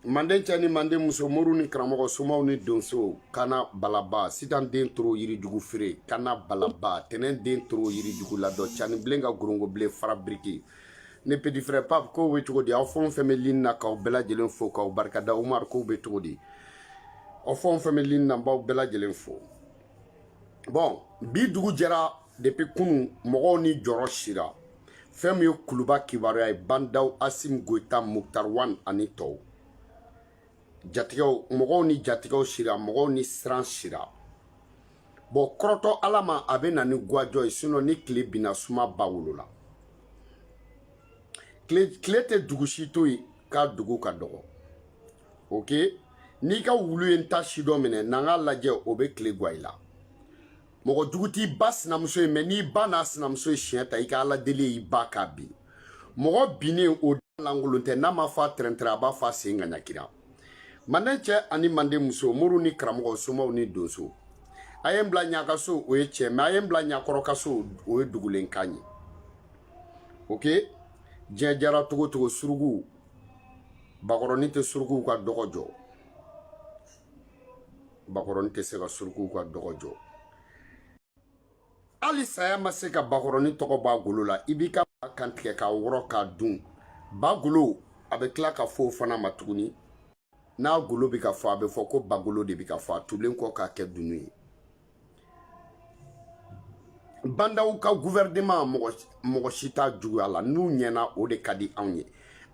manden cɛ ni manden muso moriw ni karamɔgɔ somaw ni donsow kana balaba sitan den toro yirijugu feere kana balaba tɛnɛn den toro yirijugu ladɔ cani bilen ka gorongo bilen fara biriki ne petit frère pape kow be cogo di aw fɛn o fɛn be lini na k'aw bɛɛ lajɛlen fo k'aw barikada umar kow be cogo di aw fɛn o fɛn be lini na n b'aw bɛɛ lajɛlen fo bon bi dugu jɛra depuis kunu mɔgɔw ni jɔrɔ sira fɛn min ye kuluba kibaruya ye ba ndaw asimi goyita muktar wan ani tɔw jatigɛw mɔgɔw ni jatigɛw sira mɔgɔw ni siran sira bon kɔrɔtɔ ala ma a bɛ na ni gwa jɔ ye sinon ni tile binna suma b'a wolo la tile tɛ dugu si to yen k'a dugu ka dɔgɔ ok n'i ka wulu ye n ta si dɔ minɛ n'an k'a lajɛ o bɛ tile gwan i la mɔgɔ jugu t'i ba sinamuso ye mais n'i ba n'a sinamuso ye siɲɛ ta i ka ala deli y'i ba k'a bin mɔgɔ binnen o da lankolon tɛ n'a m'a fɔ a tɛrɛntɛrɛ a b'a fɔ a sen ŋaɲakira manden cɛ ani manden muso moriw ni karamɔgɔ somaw ni donso a ye n bila ɲa ka so o ye cɛ mais a ye n bila ɲa kɔrɔ ka so o ye dugulen kan ye ok diɲɛ diyara cogo o cogo surukuw bakɔrɔnin tɛ surukuw ka dɔgɔ jɔ bakɔrɔnin tɛ se ka surukuw ka dɔgɔ jɔ hali saya ma se ka bakɔrɔnin tɔgɔ b'a golo la i b'i ka ba kantigɛ k'a wɔrɔ k'a dun ba golo a bɛ tila ka fɔ o fana ma tuguni n'a golo bɛ ka fɔ a bɛ fɔ ko bagolo de bɛ ka fɔ a tulen kɔ k'a kɛ dunun ye ba ndaw ka guvɛrɛneman mɔgɔ mɔgɔ si t'a juguya la n'u ɲɛna o de ka di anw ye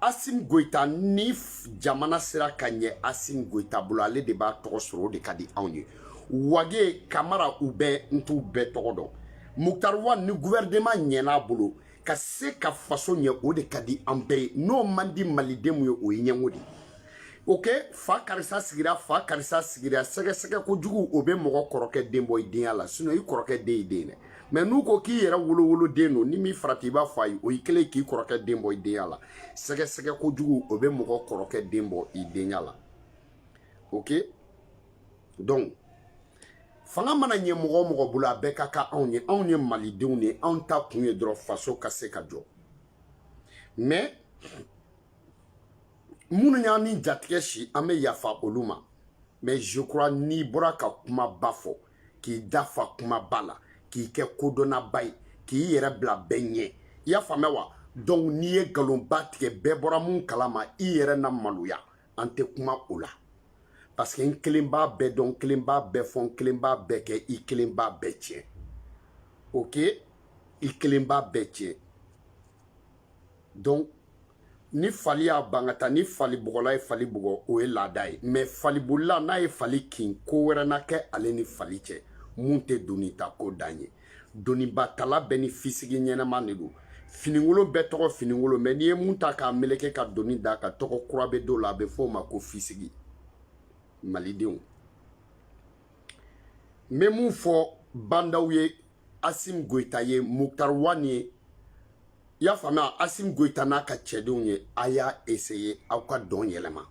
asimi goyita ni jamana sera ka ɲɛ asimi goyita bolo ale de b'a tɔgɔ sɔrɔ o de ka di anw ye wage kamara u bɛɛ n t'u bɛɛ tɔgɔ dɔn mukutari wan ni guvɛrɛneman ɲɛn'a bolo ka se ka faso ɲɛ o de ka di an bɛɛ ye n'o man di malidenw ye o ye ɲɛngo de ok fa karisa sigira fa karisa sigira sɛgɛsɛgɛ kojugu o bɛ mɔgɔ kɔrɔkɛ den bɔ i denya la sinon i kɔrɔkɛ den y'i den de mais n'u ko k'i yɛrɛ wolowoloden don ni min farati i b'a fɔ a ye o ye kelen ye k'i kɔrɔkɛ den bɔ i denya la sɛgɛsɛgɛ kojugu o bɛ mɔgɔ kɔrɔkɛ den bɔ i denya la ok donc fanga mana ɲɛ mɔgɔ o mɔgɔ bolo a bɛɛ ka kan anw ye anw ye malidenw de ye anw ta kun ye dɔrɔn faso ka se ka jɔ mais minnu y'an ni jatigɛ si an bɛ yafa olu ma mais je crois n'i bɔra ka kumaba fɔ k'i dafa kumaba la k'i kɛ kodɔnnaba ye k'i yɛrɛ bila bɛɛ ɲɛ i y'a faamuya wa donc n'i ye nkalonba tigɛ bɛɛ bɔra mun kalama i yɛrɛ na maloya an tɛ kuma o la parce que n kelen b'a bɛɛ dɔn n kelen b'a bɛɛ fɔ n kelen b'a bɛɛ kɛ i kelen b'a bɛɛ tiɲɛ ok i kelen b'a bɛɛ tiɲɛ donc ni fali y'a ban ka taa ni falibugɔla ye fali bugɔ o ye laada ye mais falibolila n'a ye fali kin ko wɛrɛ na kɛ ale ni fali cɛ mun tɛ doni ta ko dan ye donibatala bɛɛ ni fisigi ɲɛnama de don fininkolon bɛɛ tɔgɔ fininkolon mais n'i ye mun ta k'a meleke ka doni d'a kan tɔgɔ kura bɛ d'o la a bɛ fɔ o ma ko fisigi malidenw n bɛ mun fɔ bandaw ye asim goyita ye muktar wan ye i y'a faamuya asim goyita n'a ka cɛdenw ye a y'a eseye aw ka dɔn yɛlɛma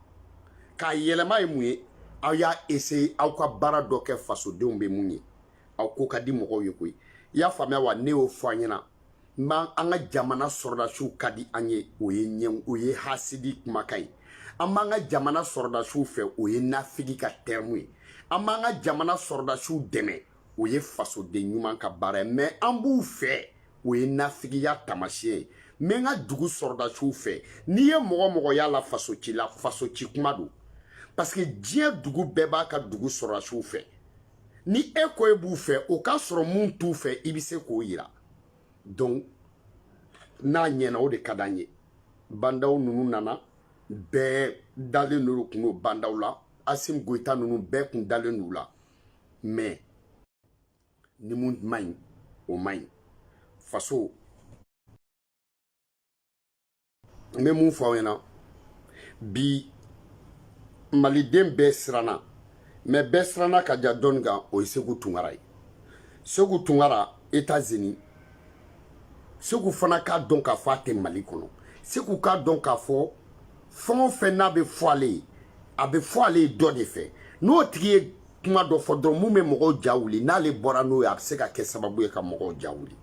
k'a yɛlɛma ye mun ye aw y'a eseye aw ka baara dɔ kɛ fasodenw bɛ mun ye aw ko ka di mɔgɔw ye koyi i y'a faamuya wa ne y'o fɔ an ɲɛna n b'an an ka jamana sɔrɔdasiw ka di an ye o ye ɲɛ o ye hasidi kumakan ye an b'an ka jamana sɔrɔdasiw fɛ o ye nafigi ka tɛrɛmu ye an b'an ka jamana sɔrɔdasiw dɛmɛ o ye fasoden ɲuman ka baara ye mɛ an b'u fɛ o ye nafigiya taamasiyɛn ye n bɛ n ka dugu sɔrɔdasiw fɛ n'i ye mɔgɔ mɔgɔ y'a la faso ci la faso ci kuma don parce que diɲɛ dugu bɛɛ b'a ka dugu sɔrɔdasiw fɛ ni e ko e b'u fɛ o k'a sɔrɔ min t'u fɛ i bɛ se k'o yira donc n'a ɲɛna o de ka d'an ye bandaw ninnu nana bɛɛ dalen don kun don bandaw la asim goyita ninnu bɛɛ kun dalen don u la mais ni mun man ɲi o man ɲi faso n bɛ mun fɔ aw ɲɛna bi maliden bɛɛ siranna mais bɛɛ siranna ka ja dɔ nin kan o ye seku tunkara ye seku tunkara etazini seku fana k'a dɔn k'a fɔ a tɛ mali kɔnɔ seku k'a dɔn k'a fɔ fɛn o fɛn n'a bɛ fɔ ale ye a bɛ fɔ ale ye dɔ de fɛ n'o tigi ye kuma dɔ fɔ dɔrɔn min bɛ mɔgɔw ja wuli n'ale bɔra n'o ye a bɛ se ka kɛ sababu ye ka mɔgɔw ja wuli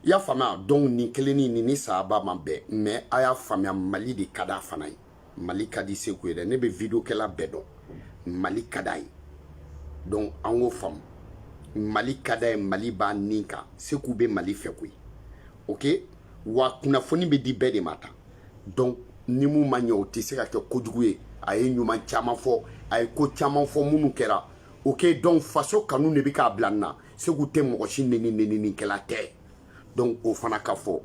i y'a faamuya donc nin kelenni nin ni saba man bɛn mais a y'a faamuya mali de ka d'a fana ye mali ka di seku ye dɛ ne bɛ videokɛla bɛɛ dɔn mali ka d'a ye donc an k'o faamu mali ka d'a ye mali b'a nin kan seku bɛ mali fɛ koyi ok wa kunnafoni bɛ di bɛɛ de ma tan donc ni mun ma ɲɛ o tɛ se ka kɛ kojugu ye a ye ɲuman caman fɔ a ye ko caman fɔ minnu kɛra ok donc faso kanu de bɛ k'a bila nin na seku tɛ mɔgɔ si neni neninikɛla tɛ donc o fana ka fɔ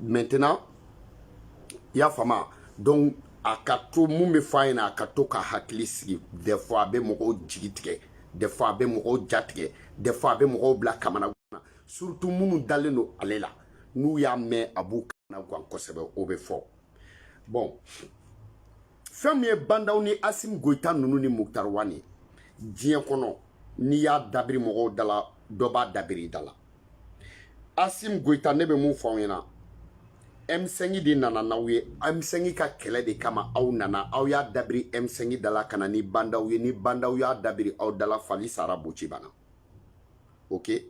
maintenant i y'a faamu donc a ka to mun bɛ f'a ɲɛna a ka to k'a hakili sigi des fois a bɛ mɔgɔw jigi tigɛ des fois a bɛ mɔgɔw ja tigɛ des fois a bɛ mɔgɔw bila kamana gan surtout minnu dalen don ale la n'u y'a mɛn a b'u kamana gan kosɛbɛ o bɛ fɔ bon fɛn min ye bandaw ni asim goyita ninnu ni muktar wani diɲɛ kɔnɔ n'i y'a dabiri mɔgɔw dala dɔ b'a dabiri i dala asim goyita ne bɛ mun fɔ aw ɲɛna m5 de nana n'aw ye m5 ka kɛlɛ de kama aw nana aw y'a dabiri m5 dala ka na ni bandaw ye ni bandaw y'a dabiri aw dala fali sara boci banna ok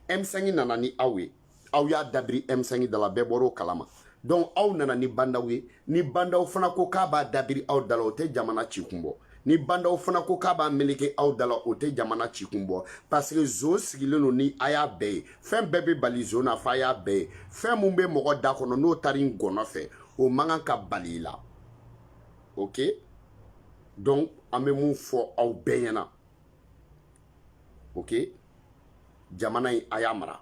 m5 nana ni aw ye aw y'a dabiri M5 dala bɛɛ bɔr'o kalama donc aw nana ni bandaw ye ni bandaw fana ko k'a b'a dabiri aw dala o tɛ jamana ci kun bɔ ni bandaw fana ko k'a b'a meleke aw dala o tɛ jamana ci kun bɔ parce que zon sigilen don ni a y'a bɛn ye fɛn bɛɛ bɛ bali zon na fo a y'a bɛn yen fɛn min bɛ mɔgɔ da kɔnɔ n'o taara i gɔnɔ fɛ o man kan ka bali i la ok donc an bɛ mun fɔ aw bɛɛ ɲɛna ok jamana in a y'a mara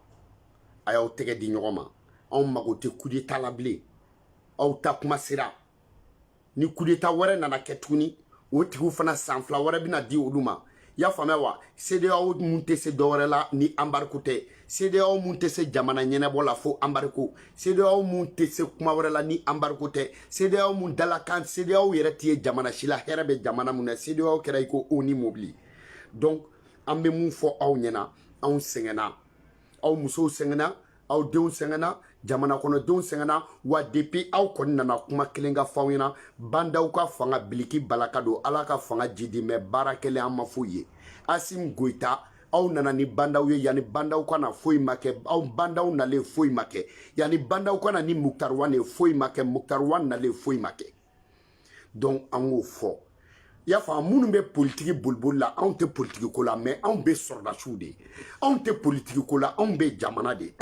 a y'aw tɛgɛ di ɲɔgɔn ma anw mago tɛ kudeta la bilen aw ta kuma sera ni kudeta wɛrɛ nana kɛ tuguni o tigiw fana san fila wɛrɛ bɛna di olu ma y'a faamuya wa sedeyaw mun tɛ se dɔwɛrɛ la ni anbariko tɛ sedeyaw mun tɛ se jamana ɲɛnabɔ la fo anbariko sedeyaw mun tɛ se kuma wɛrɛ la ni anbariko tɛ sedeyaw mun dalakan sedeyaw yɛrɛ tɛ ye jamana si la hɛrɛ bɛ jamana mun na sedeyaw kɛra i ko onu mobili donc an bɛ min fɔ aw ɲɛna anw sɛgɛnna aw musow sɛgɛnna aw denw sɛgɛnna jamana kɔnɔdenw sɛgɛnna wa depuis aw kɔni nana kuma kelen k'a fɔ aw ɲɛna bandaw ka fanga biliki balaka don ala ka fanga jiidi mɛ baara kɛlen an ma foyi ye asim goyita aw nana ni bandaw ye yanni bandaw ka na foyi ma kɛ a bandaw nalen foyi ma kɛ yanni bandaw ka na ni muktar wan ye foyi ma kɛ muktar wan nalen foyi ma kɛ donc an k'o fɔ i y'a faamu minnu bɛ politiki boliboli la anw tɛ politiki ko la mɛ anw bɛ sɔrɔdasiw de ye anw tɛ politiki ko la anw bɛ jamana de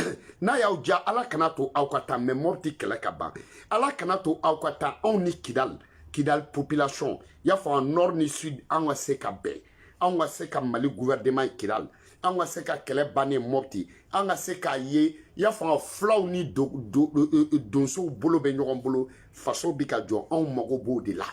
n'a y'aw jija ala kana to aw ka taa mɛ mɔpti kɛlɛ ka ban ala kana to aw ka taa anw ni kidali kidali population i y'a faamu nord ni sud an ka se ka bɛn anw ka se ka mali gouvernement kidal anw ka se ka kɛlɛ bannen mɔpti an ka se k'a ye i y'a faamu fulaw ni donsow bolo bɛ ɲɔgɔn bolo faso bɛ ka jɔ anw mago b'o de la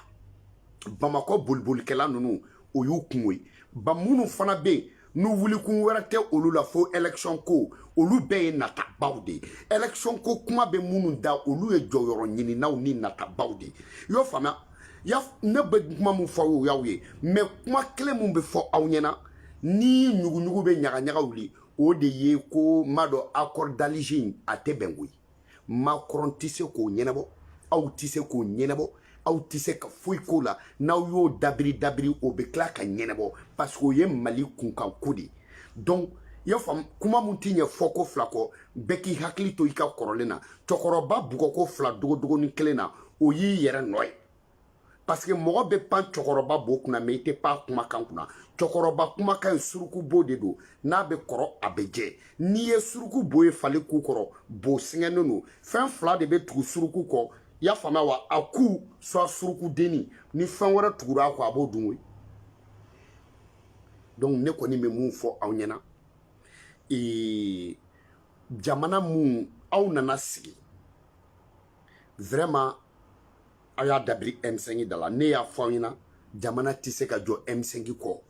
bamakɔ bolibolikɛla ninnu o y'u kunko ye ba minnu fana bɛ yen n'u wulikun wɛrɛ tɛ olu la fo election ko olu bɛɛ ye natabaw de ye election ko kuma bɛ minnu da olu ye jɔyɔrɔ ɲininaw ni natabaw de ye i y'o faamuya ya ne bɛ kuma min fɔ o y'aw ye mɛ kuma kelen min bɛ fɔ aw ɲɛna ni ɲuguɲugu bɛ ɲagaɲaga wuli o de ye ko n b'a dɔn accord d'alger in a tɛ bɛn koyi macron tɛ se k'o ɲɛnabɔ aw tɛ se k'o ɲɛnabɔ aw tɛ se ka foyi k'o la n'aw y'o dabiri dabiri o bɛ tila ka ɲɛnabɔ parce que o ye mali kunkan ko de ye donc i y'a faamu kuma min tɛ ɲɛ fɔko fila kɔ bɛɛ k'i hakili to i ka kɔrɔlen na cɛkɔrɔba bugɔko fila dogodogonin kelen na o y'i yɛrɛ nɔ ye paseke mɔgɔ bɛ pan cɛkɔrɔba bo kunna mais i tɛ pan kumakan kunna cɛkɔrɔba kumakan ye suruku bo de don n'a bɛ kɔrɔ a bɛ jɛ n'i ye suruku bo ye fali ku kɔrɔ bo sɛgɛnnen don fɛn fila de bɛ tugu suruku kɔ i y'a faamuya wa a ku soit suruku denni ni fɛn wɛrɛ tugura a kɔ a b'o dun koyi donc ne kɔni bɛ mun fɔ aw ɲɛna ee jamana min aw nana sigi vraiment aw y'a dabiri M5 da la ne y'a fɔ aw ɲɛna jamana tɛ se ka jɔ M5 kɔ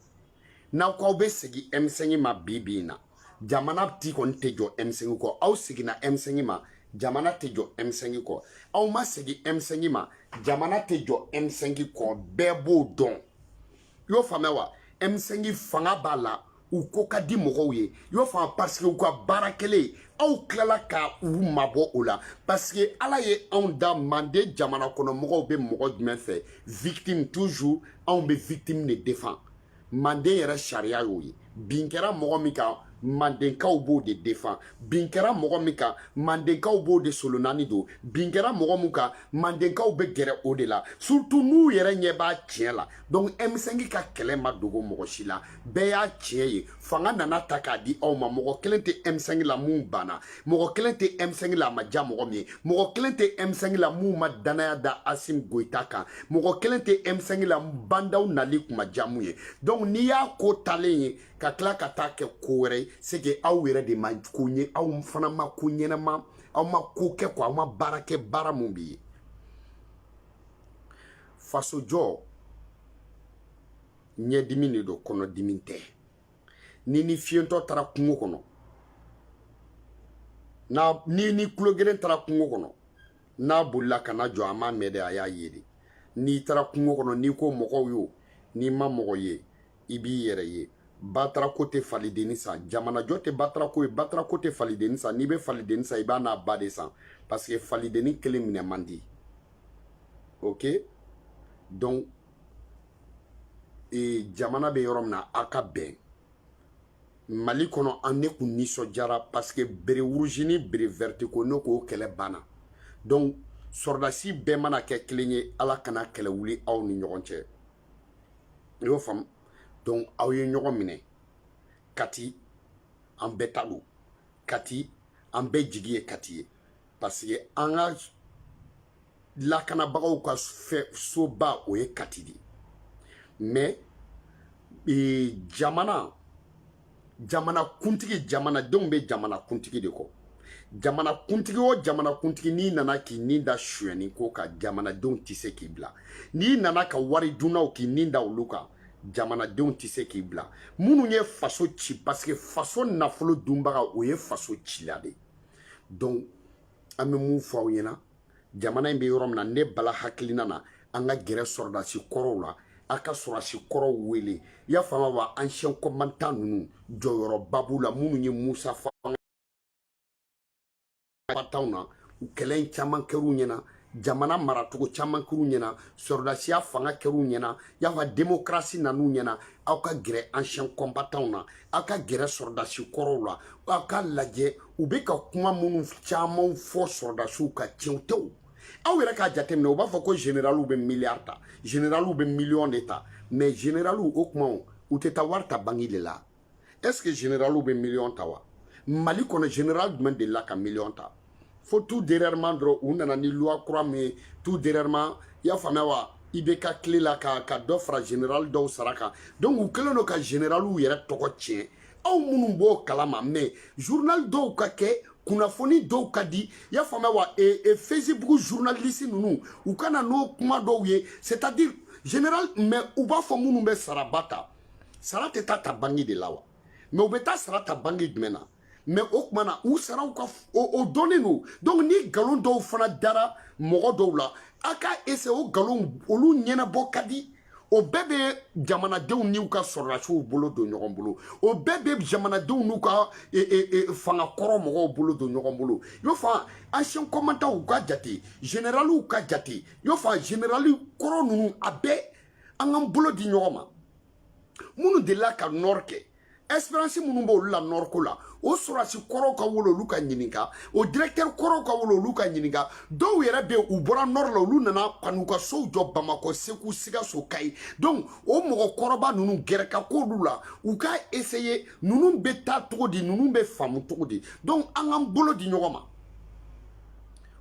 n'aw k'aw bɛ segin M5 ma bi bi in na jamana ti kɔni tɛ jɔ M5 kɔ aw seginna M5 ma jamana tɛ jɔ M5 kɔ aw ma segin M5 ma jamana tɛ jɔ M5 kɔ bɛɛ b'o dɔn i y'o faamuya wa M5 fanga b'a la u ko ka di mɔgɔw ye i y'o faamu parce que u ka baara kɛlen aw tilala ka u mabɔ o la parce que ala ye anw da manden jamana kɔnɔ mɔgɔw bɛ mɔgɔ jumɛn fɛ victime toujours anw bɛ victime de defan manden yɛrɛ sariya y'o ye bin kɛra mɔgɔ min kan mandenkaw b'o de defan bin kɛra mɔgɔ min kan mandenkaw b'o de solonani don bin kɛra mɔgɔ min kan mandenkaw bɛ gɛrɛ o de la surtout n'u yɛrɛ ɲɛ b'a tiɲɛ la donc M5 ka kɛlɛ ma dogo mɔgɔ si la bɛɛ y'a tiɲɛ ye fanga nana ta k'a di aw ma mɔgɔ kelen tɛ M5 la min banna mɔgɔ kelen tɛ M5 la a ma diya mɔgɔ min ye mɔgɔ kelen tɛ M5 la mun ma dannaya da Asim Goyita kan mɔgɔ kelen tɛ M5 la Ba Ndaw nali kun ma diya mun ye donc n'i y'a ko talen ye ka tila ka taa kɛ ko wɛrɛ ye c'est que aw yɛrɛ de ma ko ɲɛ aw fana ma ko ɲɛnama aw ma ko kɛ quoi aw ma baara kɛ baara mun b'i ye fasojɔ ɲɛdimi de don kɔnɔdimi tɛ ni ni fiyentɔ taara kungo kɔnɔ n'a ni ni kulogeren taara kungo kɔnɔ n'a bolila ka na jɔ a m'a mɛn dɛ a y'a ye de n'i taara kungo kɔnɔ n'i ko mɔgɔw yo n'i ma mɔgɔ ye i b'i yɛrɛ ye batarako tɛ falidenni san jamanajɔ tɛ batarako ye batarako tɛ falidenni san n'i bɛ falidenni san i b'a n'a ba de san parce que falidenni kelen minɛ man di ok donc ee jamana bɛ yɔrɔ min na a ka bɛn mali kɔnɔ an ne kun nisɔndiyara paseke bere wuruzi ni bere vɛriti ko ne k'o kɛlɛ banna donc sɔrɔdasi bɛɛ mana kɛ kelen ye ala kana kɛlɛ wuli aw ni ɲɔgɔn cɛ i y'o faamu donc aw ye ɲɔgɔn minɛ kati an bɛɛ ta don kati an bɛɛ jigi ye kati ye parce que an ka lakanabagaw ka soba o ye kati de mais e, jamana jamana kuntigi jamanadenw bɛ jamana kuntigi de kɔ jamana kuntigi o jamana kuntigi n'i nana k'i ni da suyɛni ko kan jamanadenw tɛ se k'i bila n'i nana ka wari dunnaw k'i ni da olu kan jamanadenw tɛ se k'i bila minnu ye faso ci parce que faso nafolo dunbaga o ye faso cila de ye donc an bɛ mun fɔ aw ɲɛna jamana in bɛ yɔrɔ min na ne bala hakilina na an ka gɛrɛ sɔrɔdasi kɔrɔw la a ka sɔrɔdasi kɔrɔw wele y'a faamu wa ancien combattant ninnu jɔyɔrɔba b'u la minnu ye musa fanga na u kɛlɛ in caman kɛr'u ɲɛna jamana maracogo caman kɛr'u ɲɛna sɔrɔdasiya fanga kɛr'u ɲɛna y'a faamu demokarasi nan'u ɲɛna aw ka gɛrɛ ancien combattant na aw ka gɛrɛ sɔrɔdasi kɔrɔw la aw ka lajɛ u bɛ ka kuma minnu caman fɔ sɔrɔdasiw kan tiɲɛw tɛ o aw yɛrɛ k'a jateminɛ u b'a fɔ ko generaliw bɛ miliyari ta generaliw bɛ miliyɔn de ta mais generaliw o kuma u tɛ taa wari ta bangi de la est ce que généraliw bɛ miliyɔn ta wa mali kɔnɔ général jumɛn delila ka miliyɔn ta fo tout dernièrement dɔrɔn u nana ni loi kura min ye tout dernièrement i y'a faamuya wa IBK tile la ka ka dɔ fara général dɔw sara kan donc u kɛlen don ka généraliw yɛrɛ tɔgɔ tiɲɛ aw minnu b'o kalama mais journal dɔw ka kɛ kunnafoni dɔw ka di i y'a faamuya wa e, e, facebook journaliste ninnu u ka na n'o kuma dɔw ye c'est à dire généralement u b'a fɔ minnu bɛ saraba ta sara tɛ taa ta bangi de la wa mais u bɛ taa sara ta bangi jumɛn na mais o tuma na u sara o dɔnnen don donc ni nkalon dɔw fana dara mɔgɔ dɔw la a ka eseye o nkalon olu ɲɛnabɔ ka di o bɛɛ bɛ jamanadenw n'u ka sɔrɔdasiw bolo don ɲɔgɔn bolo o bɛɛ bɛ jamanadenw n'u ka e, e, e, fanga kɔrɔ mɔgɔw bolo don ɲɔgɔn bolo y'o fa ancien combattantw ka jate generaliw ka jate y'o fa generali kɔrɔ ninnu a bɛɛ an k'an bolo di ɲɔgɔn ma minnu delila ka nɔri kɛ expérience minnu b'olu la nɔri ko la o sɔrɔdasi kɔrɔw ka wolo olu ka ɲininka o directeur kɔrɔw ka wolo olu ka ɲininka dɔw yɛrɛ be u bɔra nɔri la olu nana ka n'u ka sow jɔ bamakɔ segu sigaso kayi donc o mɔgɔ kɔrɔba nunu gɛrɛ ka k'olu la u ka eseye nunu be taa cogo di nunu be faamu cogo di donc an k'an bolo di ɲɔgɔn ma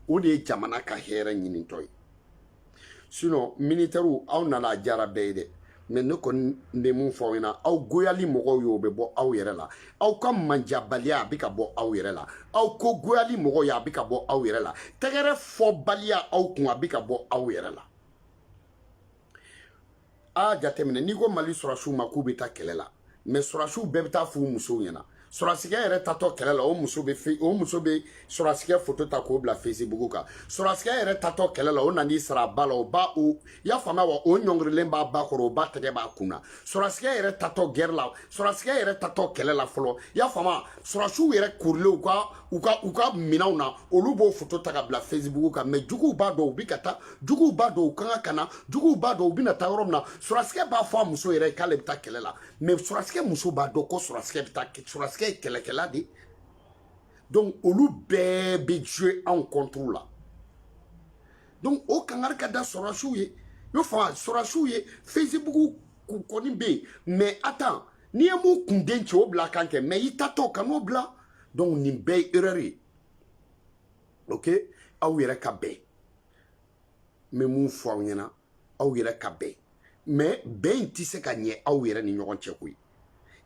o de ye jamana ka hɛrɛ ɲinintɔ ye sinon militɛriw aw nana a jara bɛɛ ye dɛ mais ne kɔni bɛ mun fɔ aw ɲɛna aw goyali mɔgɔw y'o bɛ bɔ aw yɛrɛ la aw ka manjabaliya a bɛ ka bɔ aw yɛrɛ la aw ko goyali mɔgɔw ye a bɛ ka bɔ aw yɛrɛ la tɛgɛrɛ fɔbaliya aw kun a bɛ ka bɔ aw yɛrɛ la a jateminɛ n'i ko mali sɔrɔsiw ma k'u bɛ taa kɛlɛ la mɛ sɔrɔsiw bɛɛ bɛ taa f'u musow ɲɛna sɔrɔsikɛ yɛrɛ taatɔ kɛlɛ la o muso bɛ fe o muso bɛ sɔrɔsikɛ foto ta k'o bila facebook kan sɔrɔsikɛ yɛrɛ taatɔ kɛlɛ la o nan'i sara a ba la o ba o y'a faamuya wa o ɲɔngirilen b'a ba kɔrɔ o ba tɛgɛ b'a kun na sɔrɔsikɛ yɛrɛ taatɔ gɛrɛ la sɔrɔsikɛ yɛrɛ taatɔ kɛlɛ la fɔlɔ y'a faamuya sɔrɔsiw yɛrɛ korilen u ka u ka u ka minɛnw na olu b'o foto ta ka bila facebook kan mɛ juguw b'a dɔn u bɛ ka taa juguw b'a dɔn u kan ka kana juguw b'a dɔn u bɛna taa yɔrɔ min na sɔrɔsikɛ b'a fɔ a muso yɛrɛ ye k'ale bɛ taa kɛlɛ la mɛ sɔrɔsikɛ muso b'a dɔn ko sɔrɔsikɛ bɛ taa sɔrɔsikɛ ye kɛlɛkɛla de donc olu bɛɛ bɛ jouer anw contre la donc o kangari ka da sɔrɔsiw ye i bɛ fɔ sɔrɔsiw ye facebook kɔni bɛ yen mɛ atan n'i ye mun kunden ci o bila a kan kɛ mɛ i taatɔ kan'o bila donc nin bɛɛ ye erreur ye ok aw yɛrɛ ka bɛn n bɛ mun fɔ aw ɲɛna aw yɛrɛ ka bɛn mɛ bɛn in tɛ se ka ɲɛ aw yɛrɛ ni ɲɔgɔn cɛ koyi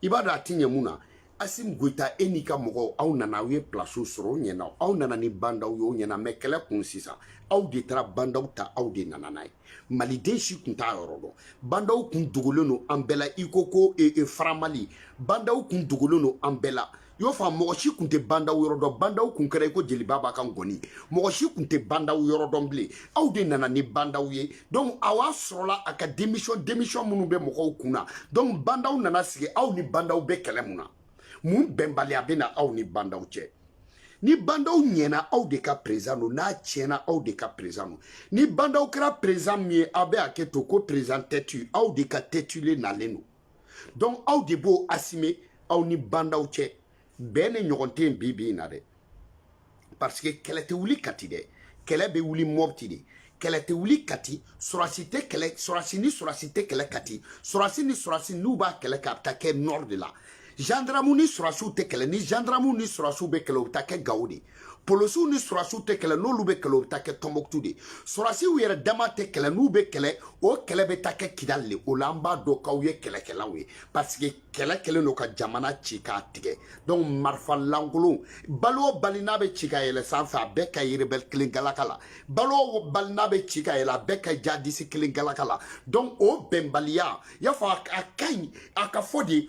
i b'a dɔn a tɛ ɲɛ mun na asimi goyita e n'i ka mɔgɔw aw nana aw ye pilasiw sɔrɔ o ɲɛna aw nana ni bandaw ye o ɲɛna mɛ kɛlɛ kun sisan aw de taara bandaw ta aw de nana n'a ye maliden si kun t'a yɔrɔ dɔn bandaw kun dogolen don an bɛɛ la i ko ko e, e faramali bandaw kun dogolen don an bɛɛ la i y'o faamu mɔgɔ si kun tɛ bandaw yɔrɔ dɔn bandaw kun kɛra i ko jeli baba ka ngɔni mɔgɔ si kun tɛ bandaw yɔrɔ dɔn bilen aw de nana ni bandaw ye donc aw a sɔrɔla a ka démission démission minnu bɛ mɔgɔw kun na donc bandaw nana sigi aw ni bandaw bɛ kɛlɛ mun na mun bɛnbaliya bɛ na aw ni bandaw cɛ ni bandaw ɲɛna aw de ka perezan don n'a tiɲɛna aw de ka perezan don ni bandaw kɛra perezan min ye aw bɛ a kɛ to ko perezan tɛtu aw de ka tɛtulen nalen don donc aw de b'o assumer aw ni bandaw cɛ bɛn in ɲɔgɔn tɛ yen bi bi in na dɛ parce que kɛlɛ tɛ wuli kati dɛ kɛlɛ bɛ wuli mɔbiti de kɛlɛ tɛ wuli kati sɔrɔsi tɛ kɛlɛ sɔrɔsi ni sɔrɔsi tɛ kɛlɛ kati sɔrɔsi ni sɔrɔsi n'u b'a kɛlɛ kɛ a bɛ taa kɛ nord de la gendarme ni sɔrɔsiw tɛ kɛlɛ ni gendarme ni sɔrɔsiw bɛ kɛlɛ o bɛ taa kɛ gawo de polosiw ni sɔrɔsiw tɛ kɛlɛ n'olu bɛ kɛlɛ o bɛ taa kɛ tɔnbɔkutu de sɔrɔsiw yɛrɛ dama tɛ kɛlɛ n'u bɛ kɛlɛ o kɛlɛ bɛ taa kɛ kidali de o la an b'a dɔn k'aw ye kɛlɛkɛlaw ye parce que kɛlɛ kɛlen don ka jamana ci k'a tigɛ donc marifa lankolon bali o bali n'a bɛ ci ka yɛlɛ sanfɛ a bɛɛ ka ye rebɛli kelen galaka la bali o bali n'a bɛ ci ka yɛlɛ a bɛɛ ka jadisi kelen galaka la donc o bɛnbaliya y'a fɔ a ka ɲi a ka fɔ de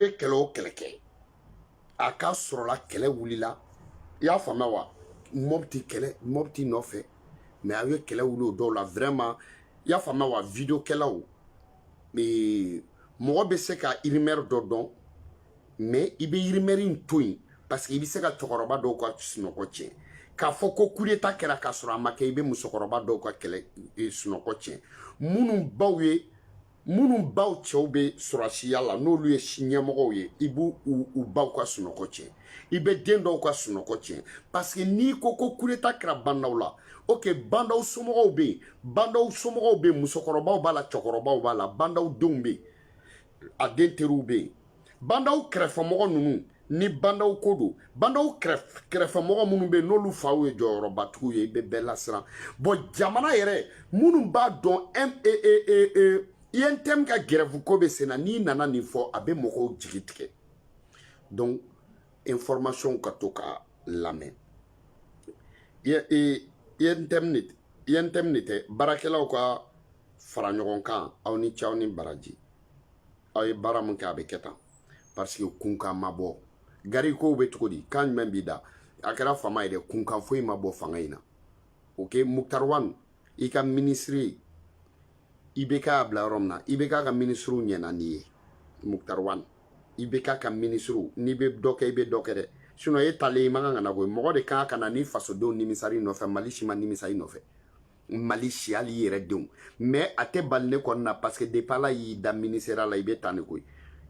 bɛ kɛlɛ o kɛlɛ kɛ a ka sɔrɔla kɛlɛ wulila i y'a faamuya wa mɔbiti kɛlɛ mɔbiti nɔfɛ mɛ a ye kɛlɛ wuli o dɔw la vraiment i y'a faamuya wa video kɛlaw mɔgɔ bɛ se ka irimɛri dɔ dɔn mɛ i bɛ irimɛri in to yen parce que i bɛ se ka cɛkɔrɔba dɔw ka sunɔgɔ tiɲɛ k'a fɔ ko kudeta kɛra k'a sɔrɔ a ma kɛ i bɛ musokɔrɔba dɔw ka kɛlɛ sunɔgɔ tiɲɛ minnu baw ye minnu baw cɛw bɛ sɔrɔdasiya la n'olu ye ɲɛmɔgɔw ye i b'u baw ka sunɔgɔ tiɲɛ i bɛ den dɔw ka sunɔgɔ tiɲɛ parce que n'i ko ko kudeta kɛra bandaw la ok bandaw somɔgɔw bɛ yen bandaw somɔgɔw bɛ yen musokɔrɔbaw b'a la cɛkɔrɔbaw b'a la bandaw denw bɛ yen a den teriw bɛ yen bandaw kɛrɛfɛmɔgɔ ninnu ni bandaw ko don bandaw kɛrɛfɛmɔgɔ minnu bɛ yen n'olu faw ye jɔyɔrɔbatigiw ye i bɛ bɛɛ lasiran bɔn jamana yɛrɛ minnu b'a dɔn untm ka gɛrɛfu ko bɛ sen na n'i nana nin fɔ a bɛ mɔgɔw jigi tigɛ donc information ka to ka lamɛn internet baarakɛlaw ka fara ɲɔgɔn kan aw ni ce aw ni baraji aw ye baara mun kɛ a bɛ kɛ tan parce que kunkan ma bɔ gari kow bɛ cogo di kan jumɛn b'i da a kɛra fama ye dɛ kunkan foyi ma bɔ fanga in na ok muktar wan i ka minisiri i bɛ k'a bila yɔrɔ min na i bɛ k'a ka minisiriw ɲɛna n'i ye muktar wan i bɛ k'a ka minisiriw n'i bɛ dɔ kɛ i bɛ dɔ kɛ dɛ sinɔn e taalen i man kan ka na koyi mɔgɔ de kan ka na ni fasodenw nimisara i nɔfɛ mali si ma nimisa i nɔfɛ mali si hali i yɛrɛ denw mais a tɛ bali ne kɔni na parce que depuis ala y'i da minisiriya la i bɛ tan de koyi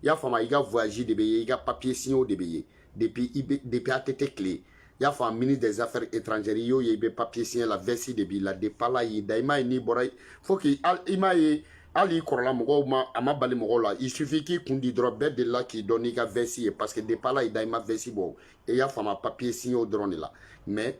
i y'a faamu i ka voyage de bɛ ye i ka papier signew de bɛ ye depuis i bɛ depuis att tile i y'a faamu ministre des affaires étrangères i y'o ye i bɛ papier signé la vɛsi de b'i la depuis ala y'i da i m'a ye n'i bɔra fo k'i i m'a ye hali i kɔrɔla mɔgɔw ma a ma bali mɔgɔw la il suffit k'i kun di dɔrɔn bɛɛ delila k'i dɔn n'i ka vɛsi ye parce que depuis ala y'i da i ma vɛsi bɔ i y'a faamu papier signew dɔrɔn de la mais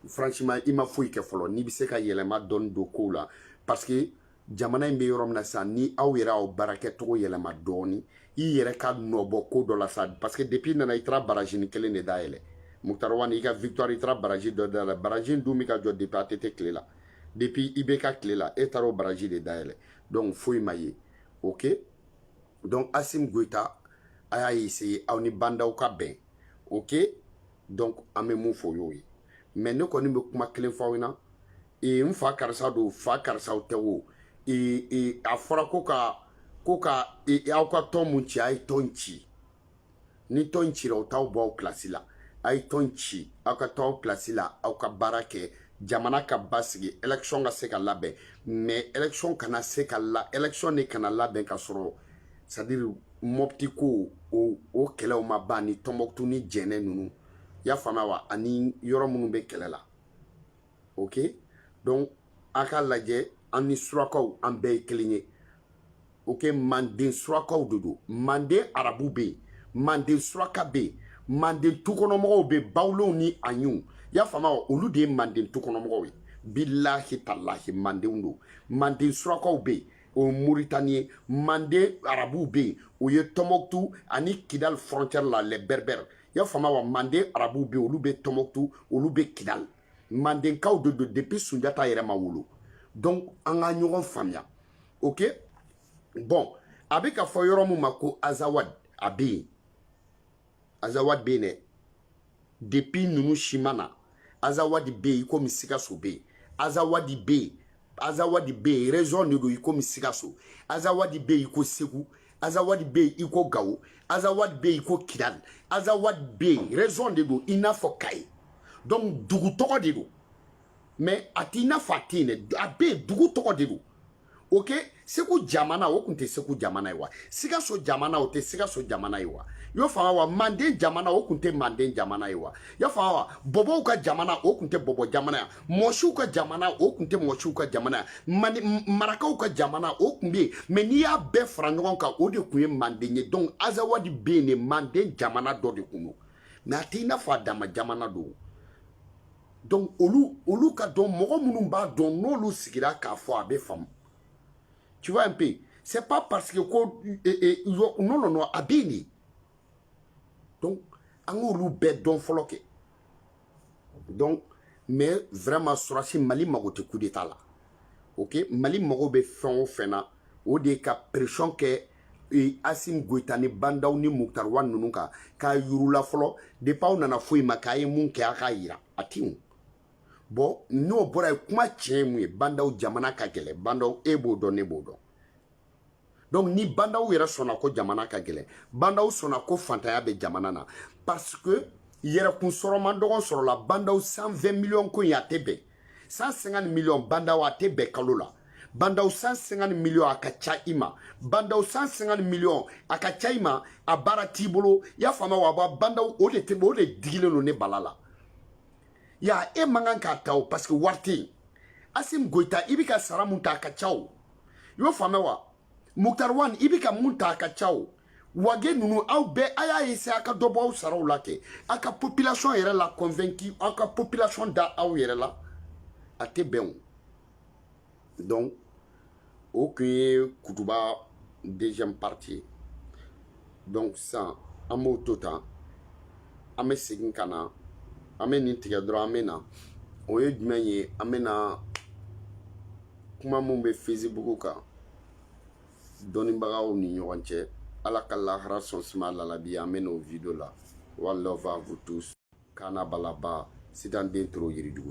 franchement i ma foyi kɛ fɔlɔ n'i bɛ se ka yɛlɛma dɔɔni don kow la parce que jamana in bɛ yɔrɔ min na sisan ni aw yɛrɛ aw baarakɛcogo yɛlɛma dɔɔni i yɛrɛ ka nɔ bɔ ko dɔ la sa parce que depuis i nana i taara barajini kelen de dayɛlɛ mukutari wani i ka victoire i taara baraji dɔ dayɛlɛ baraji dun bɛ ka jɔ depuis att tile la depuis ibk tile la e taara o baraji de dayɛlɛ donc foyi ma ye ok donc asimi goyita a y'a essayer aw ni bandaw ka bɛn ok donc an bɛ mun fɔ o y'o ye mɛ ne kɔni bɛ kuma kelen fɔ aw ɲɛna ee n fa karisa don fa karisaw tɛ o ee ee a fɔra ko ka ko ka ee aw ka tɔn mun ci a ye tɔn ci ni tɔn cira o t'aw bɔ aw plasi la a ye tɔn ci aw ka to aw plasi la aw ka baara kɛ jamana ka basigi election ka se ka labɛn mais election kana se ka la election de kana labɛn ka sɔrɔ c'est à dire mɔpti ko o o kɛlɛw ma ban ni tɔnbɔkutu ni jɛnɛ ninnu y'a faamuya wa ani yɔrɔ minnu bɛ kɛlɛ la ok donc a ka lajɛ an ni surakaw an bɛɛ ye kelen ye ok manden surakaw de don manden arabu bɛ yen manden suraka bɛ yen manden tukɔnɔmɔgɔw bɛ bawulenw ni aɲiw y'a faamu wa olu de ye manden tukɔnɔmɔgɔw ye bilahi talahi mandenw don manden surakaw bɛ yen o ye moritani ye manden arabuw bɛ yen o ye tɔmɔkutu ani kidali frontière la les berbères y'a faamu wa manden arabuw bɛ olu bɛ tɔmɔkutu olu bɛ kidal mandenkaw de don depuis sunjata yɛrɛ ma wolo donc an ka ɲɔgɔn faamuya ok bon a bɛ ka fɔ yɔrɔ min ma ko azawad a bɛ yen azawad bɛ yen dɛ depuis ninnu si ma na azawadi bɛ yen i komi sikaso bɛ yen azawadi bɛ yen azawadi bɛ yen région de don i komi sikaso azawadi bɛ yen i ko segu azawadi bɛ yen i ko gawo azawadi bɛ yen i ko kidali azawadi bɛ yen région de don i n'a fɔ kayi donc dugu tɔgɔ de don mais a t'i n'a fɔ a tɛ yen dɛ a bɛ yen dugu tɔgɔ de don ok segu jamana o tun tɛ segu jamana ye wa sikaso jamana o tɛ sikaso jamana ye wa y'o faamu wa manden jamana o tun tɛ manden jamana ye wa y'a faamu wa bɔbɔw ka jamana o tun tɛ bɔbɔ jamana ye mɔsiw ka jamana o tun tɛ mɔsiw ka jamana ani marakaw ka jamana o tun bɛ yen mais n'i y'a bɛɛ fara ɲɔgɔn kan o de tun ye manden ye donc azawadi bɛ yen dɛ manden jamana dɔ de tun don mais a tɛ i n'a fɔ a dama jamana don donc olu olu k'a dɔn mɔgɔ minnu b'a dɔn n'olu sigira k'a fɔ a bɛ faamu tu vois un peu c'est pas parce que ko eh, eh, non non non a bɛ yen dɛ donc an k'olu bɛɛ dɔn fɔlɔ kɛ donc mais vraiment surasi mali mago tɛ coup d'état la ok mali mago bɛ fɛn o fɛn na o de ye ka pression kɛ e, asim goyita ni bandaw ni muktar wan ninnu kan k'a yira u la fɔlɔ depuis aw nana foyi ma kɛ a ye mun kɛ a k'a yira a tinw bɔn n'o bɔra yen kuma tiɲɛ ye mun ye bandaw jamana ka gɛlɛn bandaw e b'o dɔn ne b'o dɔn donc ni bandaw yɛrɛ sɔnna ko jamana ka gɛlɛn bandaw sɔnna ko fantanya bɛ jamana na parce que yɛrɛkun sɔrɔ man dɔgɔn sɔrɔla bandaw 120 miliyɔn ko in a tɛ bɛn 150 miliyɔn bandaw a tɛ bɛn kalo la bandaw 150 miliyɔn a ka ca i ma bandaw 150 miliyɔn a ka ca i ma a baara t'i bolo i y'a faamuya wa ba bandaw o de tɛ o de digilen don ne bala la ya e man kan k'a ta o parce que wari tɛ yen asim goyita i bɛ ka sara min ta a ka ca o i y'o faamuya wa muktar wan i bɛ ka mun ta a ka ca o wage ninnu aw bɛɛ a y'a essayer a ka dɔ bɔ aw saraw la kɛ aw ka population yɛrɛ la convaincu aw ka population da aw yɛrɛ la a tɛ bɛn o donc o tun ye kutuba deuxième partie ye donc sisan an b'o to tan an bɛ segin ka na an bɛ nin tigɛ dɔrɔn an bɛ na o ye jumɛn ye an bɛ na kuma min bɛ fesibuku kan dɔnnibagaw ni ɲɔgɔn cɛ ala ka lahara sɔn suma lalabi an bɛ n'o video la one love vous tous kana balaba sitan den toro yiridugu